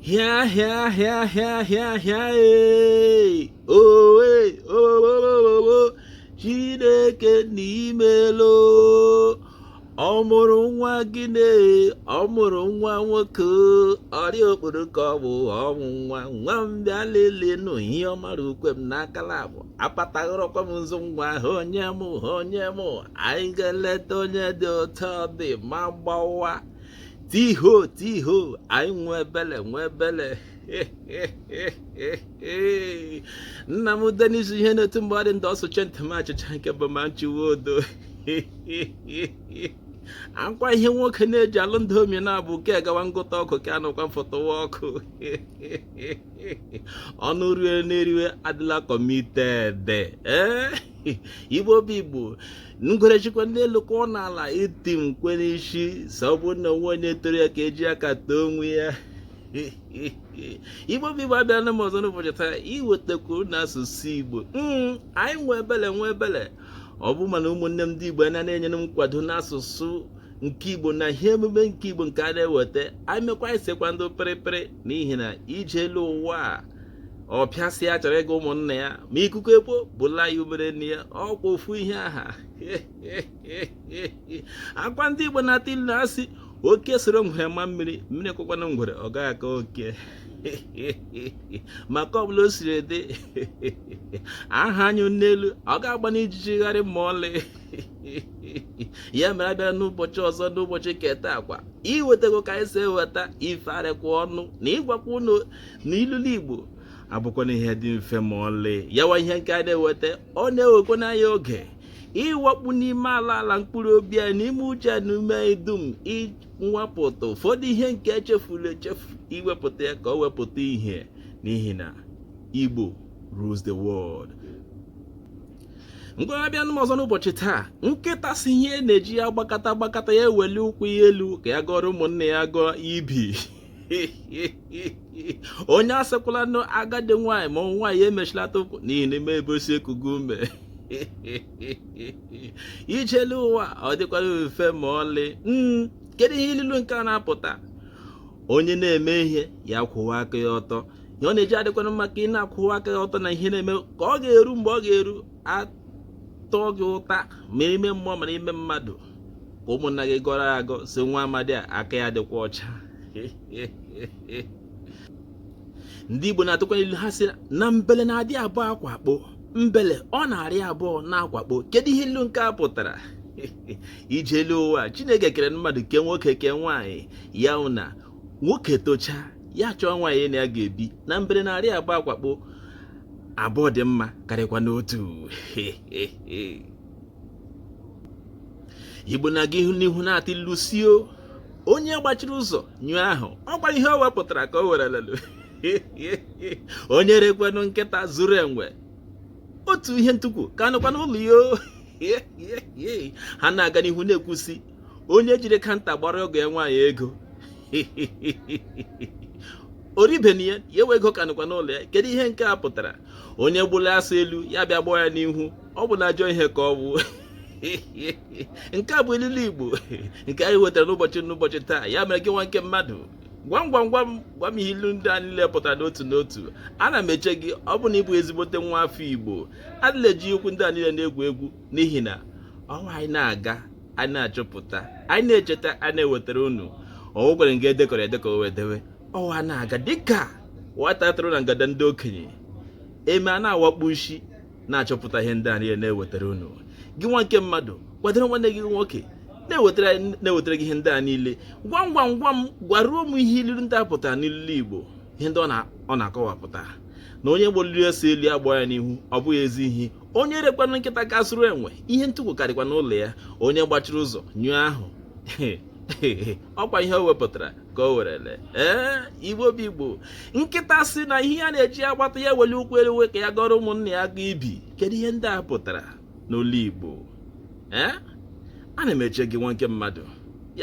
Hịa hịa hịa hịa hịa hịa ee owe owowowowo Chineke nna imela o ọ mụrụ nwa gịnị ọ mụrụ nwa nwoke ọrịa okporo ka ọ bụ ọnwụ nwa nwa m bịa lelee nụ ihe ọma ra ukwe m n'akala abụ apataghọrọkwa m nzu nwa ahụ onye m onye m anyị ga-eleta onye dị otu ọ dị ma gbawa tiho tiho anyị nwe ebele nwe ebele nna m Denis ihe na-etu mgbe ọ dị ndị ọsụche ntị m achịcha nke bụ ma nchiwe odo akwa ihe nwoke na-eji alụ ndị omi na-abụ ka e gawa ngụta ọkụ ka anụkwa mfọtụwa ọkụ ọnụ rue n'eriwe adịla committed ee eh? Igbo bụ Igbo ngwere sikwa n'elu kụọ n'ala itim kwee n'isi sị ọ bụrụ na o nweghị onye toro ya ka e ji aka too onwe ya Igbo bụ Igbo abịala m ọzọ n'ụbọchị taa iwetakwu na asụsụ Igbo hmm, anyị nwe ebele nwe ebele ọ bụ mana ụmụnne m ndị Igbo a na-enyere m nkwado n'asụsụ nke Igbo na ihe emume nke Igbo nke a na-eweta anyị mekwa anyị sekwa ndị pịrịpịrị n'ihi na ije elu ụwa a ọpịa sị ya chọrọ ịga ụmụnna ya ma ikuku ekuo bula ya umere nne ya ọkwa ofu ihe ahụkwa ndị Igbo na-atụ ilu asị oke soro ngwere maa mmiri mmiri kọkwanụ ngwere ọ gaghị akọ oke maka ọbụla o siri dị ahụ a nyụ n'elu ọ ga-agbanụ ijiji gharịị ma ọlị ya mere abịara n'ụbọchị ọzọ n'ụbọchị nke taakwa iwetago ka anyị si eweta ife arịkwa ọnụ na ịgwakwa ụnụ na ilulu Igbo abụkwanụ ihe dị mfe ma ọlị ya wa ihe nke a na-eweta ọ na-ewekwa anyị oge ịwakpu n'ime ala ala mkpụrụ obi anyị n'ime uche na ume anyị dum iwepụta ụfọdụ ihe nke e chefuru echefu iwepụta ya ka ọ pụta ihe n'ihi na Igbo rules the world ngwa abịa m ọzọ n'ụbọchị taa nkịta sị ihe na-eji ya gbakata gbakata ya eweli ụkwụ ya elu ka ya gọrọ ụmụnne ya gọọ ibi onye asịkwala nụ agadi nwaanyị ma ọ nọwa ya mechilata ụkwụ n'ihi na ị ma ebe o si ekugo ume ije elu ụwa ọ dịkwanụ mfe ma ọlị hmm, kedu ihe ilulu nke a na-apụta onye na-eme ihe ya kwụwa aka ya ọtọ ihe ọ na-eji adịkwanụ mma ka ị na-akwụwa aka ya ọtọ n'ihe ị na-eme ka ọ ga-eru mgbe ọ ga-eru a taa gị ụta ma ime mmụọ ma ime mmadụ ka ụmụnna gị gọrọ ya agọ sị nwa amadi a aka ya dịkwa ọcha ndị Igbo na-atụkwanụ ilu ha sị na mbele na-adị abụọ akwakpo mbele ọ na-arị abụọ na-akwakpo kedu ihe ilu nke a pụtara ije elu ụwa Chineke kere mmadụ ke nwoke ke nwaanyị ya na nwoke tocha ya chọọ nwaanyị na ya ga-ebi na mbele na-arị abụọ akwakpo abụọ dị mma karịkwa n'otu igbo na-aga ihu n'ihu na-atụ ilu sị o onye gbachiri ụzọ nyụọ ahụ ọkwa ihe o wepụtara ka o were lelu onye rekwanụ nkịta zụrụ enwe otu ihe ntukwu ka nọkwa n'ụlọ ya ha na-aga n'ihu na-ekwu sị onye jiri kanta gbara oge ya nwaanyị ego oribeni ya ya ewe ego ka nọkwa n'ụlọ ya kedu ihe nke a pụtara onye gbụla asụ elu ya bịa gbaa ya n'ihu ọ bụ na ajọ ihe ka ọ bụ nke a bụ ilulu igbo nke anyị wetara n'ụbọchị taa ya mere gị nwa nke mmadụ gwam gwam gwam gwam ihe ilu ndị a niile pụtara n'otu n'otu ana m eche gị ọ bụ na ị bụ ezigbote nwa afọ igbo adịla eji okwu ndị a niile na-egwu egwu n'ihi na ọnwa anyị na-aga anyị na-achọpụta anyị na-echeta anyị na-ewetara unu ọnwụ gwere nga e dekọrọ edekọ wee dewe ọwa na-aga dịka nwata atụrụ na ngada ndị okenye eme a na-awakpu isi na-achọpụta ihe ndị a niile na-ewetara unu gị nwa nke mmadụ kwadoro nwanne gị nwoke na-ewetara gị ihe ndị a niile gwam gwam gwam gwaruo m ihe ilulu ndị a pụtara n'ilu igbo ihe ndị ọ na-akọwapụta na onye gbụliri asụ elu ya gbaa ya n'ihu ọ bụghị ezi ihe onye rekwanụ nkịta ga zụrụ enwe ihe ntukwu ka dịkwa n'ụlọ ya onye gbachiri ụzọ nyụọ ahụ ọkwa ihe o wepụtara ka o were lee ee igbo bụ igbo nkịta sị na ihe ya na-eji agbata ya weli ụkwụ elu ka ya gọrọ ụmụnna ya ga ibi kedu ihe ndị a pụtara n'olu igbo ee ana m eche gị nwa nke mmadụ